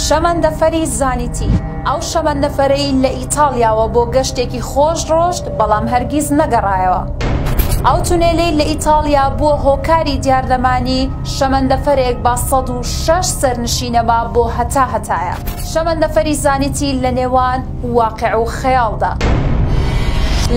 شەمەندەفەری زانیتی ئەو شەمەندەفەرەی لە ئیتالیاوە بۆ گەشتێکی خۆش ڕۆشت بەڵام هەرگیز نەگەڕایەوە ئەو تونێلەی لە ئیتالیا بووە هۆکاری دیاردەمانی شەمەندەفەرێک با 16 سەرنشینەما بۆ هەتا هەتایە شەمەندەفەری زانیتی لە نێوان واقع و خەیاڵدا.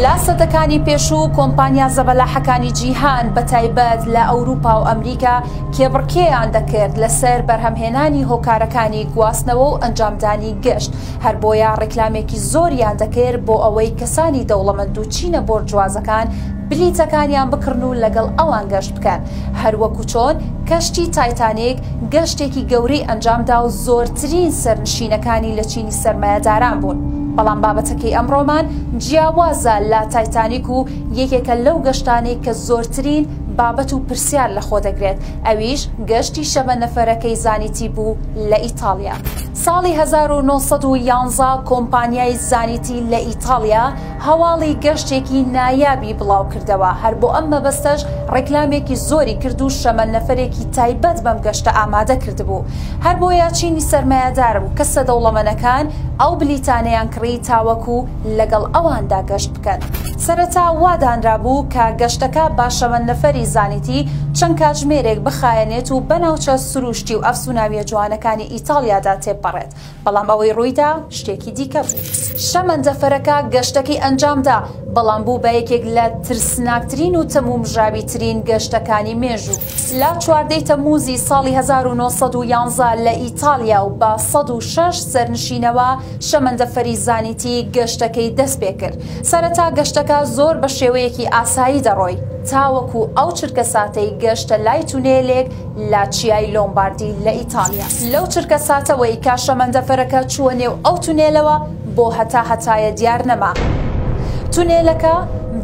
لە سەدەکانی پێشوو کۆمپانیا زەبەلاحەکانی جیهان بە تایبەت لە ئەوروپا و ئەمریکا کێبڕکێیان دەکرد لەسەر بەرهەمهێنانی هۆکارەکانی گواستنەوە و ئەنجامدانی گەشت هەر بۆیە ڕیکلامێکی زۆریان دەکرد بۆ ئەوەی کەسانی دەوڵەمەند و چینە بۆرجوازەکان بلیتەکانیان بکڕن و لەگەڵ ئەوان گەشت بکەن هەر وەکو چۆن کەشتی تایتانیک گەشتێکی گەورەی ئەنجامدا و زۆرترین سەرنشینەکانی لە چینی سەرمایەداران بوون، بەڵام بابەتەکەی ئەمڕۆمان جیاوازە لە تایتانیک و یەکێکە لەو گەشتانەی کە زۆرترین بابەت و پرسیار لەخۆ دەگرێت، ئەویش گەشتی شەبە نەفەرەکەی زانیتی بوو لە ئیتاڵیا. ساڵی هەزار و نۆ سەد و یازدە کۆمپانیای زانیتی لە ئیتاڵیا، هەواڵی گەشتێکی نایابی بڵاوکردەوە، هەر بۆ ئەم مەبەستەش ڕێکلامێکی زۆری کرد و شەمەند نەفەرێکی تایبەت بەم گەشتە ئامادە کردبوو. هەر بۆیە چینی سەرمایەدار و کەسە دەوڵەمەنەکان ئەو بلیتانەیان کڕی تاوەکو لەگەڵ ئەواندا گەشت بکەن. سەرەتا وا دانرابوو کە گەشتەکە با شەمەند نەفەری زانیتی چەند کاتژمێرێک بخایەنێت و بە ناوچە سرووشتی و ئەفسووناوییە جوانەکانی ئیتاڵیادا تێپەڕێت. بەڵام ئەوەی ڕوویدا شتێکی دیکە بوو. شەمەندەفەرەکە گەشتەکەی ئەنجامدا، بەڵام بوو بە یەکێک لە ترسناکترین و تەمومژاویترین گەشتەکانی مێژوو. لە چواردە ی تەممووزی ساڵی هەزار و نۆ سەد و یانزە لە ئیتالیا و بە سەد و شەش سەرنشینەوە شەمەندەفەری زانیتی گەشتەکەی دەست پێ کرد. سەرەتا گەشتەکە زۆر بە شێوەیەکی ئاسایی دەڕۆی تاوەکو ئەو چرکەساتەی گەشتە لای تونێلێک لە چیای لۆمباردی لە ئیتاڵیا لەو چرکە ساتەوەی کە شەمەندەفەرەکە چووە نێو ئەو تونێلەوە بۆ هەتا هەتایە دیار نەما تونێلەکە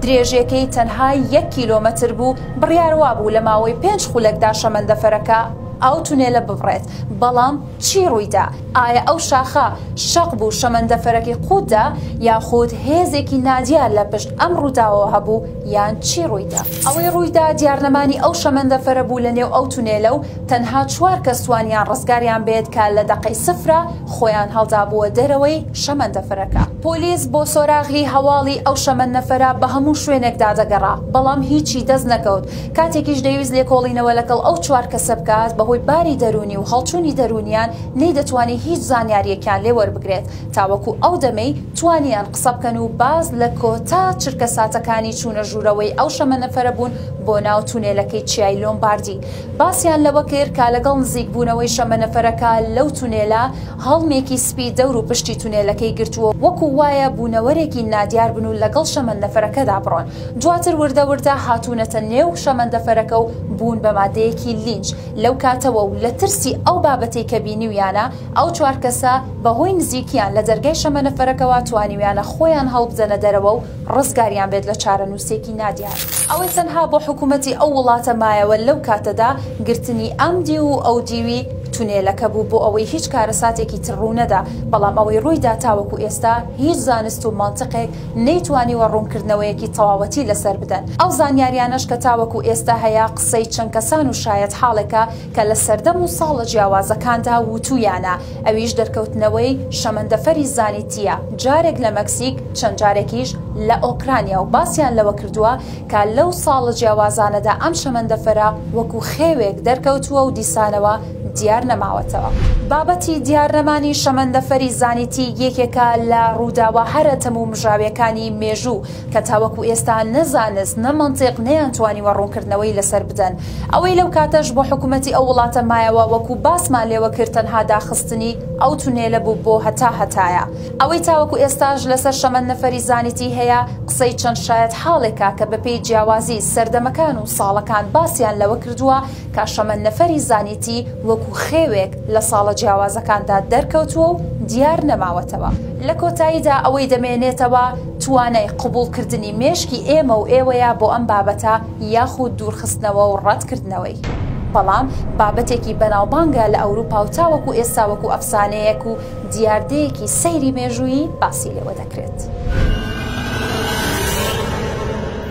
درێژێکەی تەنها یەک کیلۆمەتر بوو بڕیاروا بوو لە ماوەی پێنج خولەکدا شەمەندەفەرەکە ئەو تونێلە ببڕێت بەڵام چی ڕوویدا؟ ئایا ئەو شاخە شەق بوو شەمەندەفەرەکەی قووتدا، یاخود هێزێکی نادیار لە پشت ئەم ڕووداوەوە هەبوو، یان چی ڕوویدا؟ ئەوەی ڕوویدا دیارنەمانی ئەو شەمەندەفەرە بوو لەنێو ئەو تونێلە و تەنها چوار کەس توانیان ڕزگاریان بێت کە لە دەقەی سفرە خۆیان هەڵدابووە دەرەوەی شەمەندەفەرەکە. پۆلیس بۆ سۆراغی هەواڵی ئەو شەمەنەفەرە بە هەموو شوێنێکدا دەگەڕا، بەڵام هیچی دەست نەکەوت. کاتێکیش دەیویست لێکۆڵینەوە لەگەڵ ئەو چوار کەسە بکات، بەهۆی باری دەروونی و هەڵچوونی دەروونیان نەیدەتوانی هیچ زانیارییەکیان لێ وەربگرێت، تاوەکو ئەو دەمەی توانیان قسە بکەن و باز لە کۆتا چرکەساتەکانی چوونە ژوورەوەی ئەو شەمەنەفەرە بوون بۆ ناو تونێلەکەی چیای لۆمباردی باسیان لەوە کرد کە لەگەڵ نزیک بوونەوەی شەمەنەفەرەکە لەو تونێلە هەڵمێکی سپی دەور و پشتی تونێلەکەی گرتووە وەکو وایە بوونەوەرێکی نادیار بن و لەگەڵ شەمەنەفەرەکەدا بڕۆن. دواتر وردە وردە هاتوونەتە نێو شەمەندەفەرەکە و بوون بە مادەیەکی لینج، لەو کاتەوە و لە ترسی ئەو بابەتەی کە بینیویانە، ئەو چوار کەسە بە هۆی نزیکیان لە دەرگای شەمەنەفەرەکەوە توانیویانە خۆیان هەڵبدەنە دەرەوە و ڕزگاریان بێت لە چارەنووسێکی نادیار. ئەوەی تەنها بۆ حکوومەتی ئەو وڵاتە مایەوە لەو کاتەدا گرتنی ئەم دیو و ئەو دیوی تونێلەکە بوو بۆ ئەوەی هیچ کارەساتێکی تر ڕوو نەدا، بەڵام ئەوەی ڕووی دا تاوەکو ئێستا هیچ زانست و مەنتقێک نەیتوانیوە ڕوونکردنەوەیەکی تەواوەتی لەسەر بدەن. ئەو زانیاریانەش کە تاوەکو ئێستا هەیە قسەی چەند کەسان و شایەتحاڵێکە کە لە سەردەم و ساڵە جیاوازەکاندا وتوویانە، ئەویش دەرکەوتنەوەی شەمەندەفەری زانیتییە، جارێک لە مەکسیک چەند جارێکیش لە ئۆکرانیا و باسیان لەوە کردووە کە لەو ساڵە جیاوازانەدا ئەم شەمەندەفەرە وەکو خێوێک دەرکەوتووە و دیسانەوە دیار نەماوەتەوە. بابەتی دیار نەمانی شەمەندەفەری زانیتی یەکێکە لە ڕووداوە هەرە تەمومژاویەکانی مێژوو کە تاوەکو ئێستا نە زانست نە مەنتیق نەیانتوانیوە ڕوونکردنەوەی لەسەر بدەن. ئەوەی لەو کاتەش بۆ حکومەتی ئەو وڵاتە مایەوە وەکو باسمان لێوە کرد تەنها داخستنی ئەو تونێلە بوو بۆ هەتا هەتایە. ئەوەی تاوەکو ئێستاش لەسەر شەمەندەفەری زانیتی هەیە قسەی چەند شایەتحاڵێکە کە بەپێی جیاوازی سەردەمەکان و ساڵەکان باسیان لەوە کردووە تا شەمەند نەفەری زانیتی وەکو خێوێک لە ساڵە جیاوازەکاندا دەرکەوتووە و دیار نەماوەتەوە. لە کۆتاییدا ئەوەی دەمێنێتەوە توانای قبوڵکردنی مێشکی ئێمە و ئێوەیە بۆ ئەم بابەتە یاخود دوورخستنەوە و ڕەتکردنەوەی. بەڵام بابەتێکی بەناوبانگە لە ئەوروپا و تاوەکو ئێستا وەکو ئەفسانەیەک و دیاردەیەکی سەیری مێژوویی باسی لێوە دەکرێت.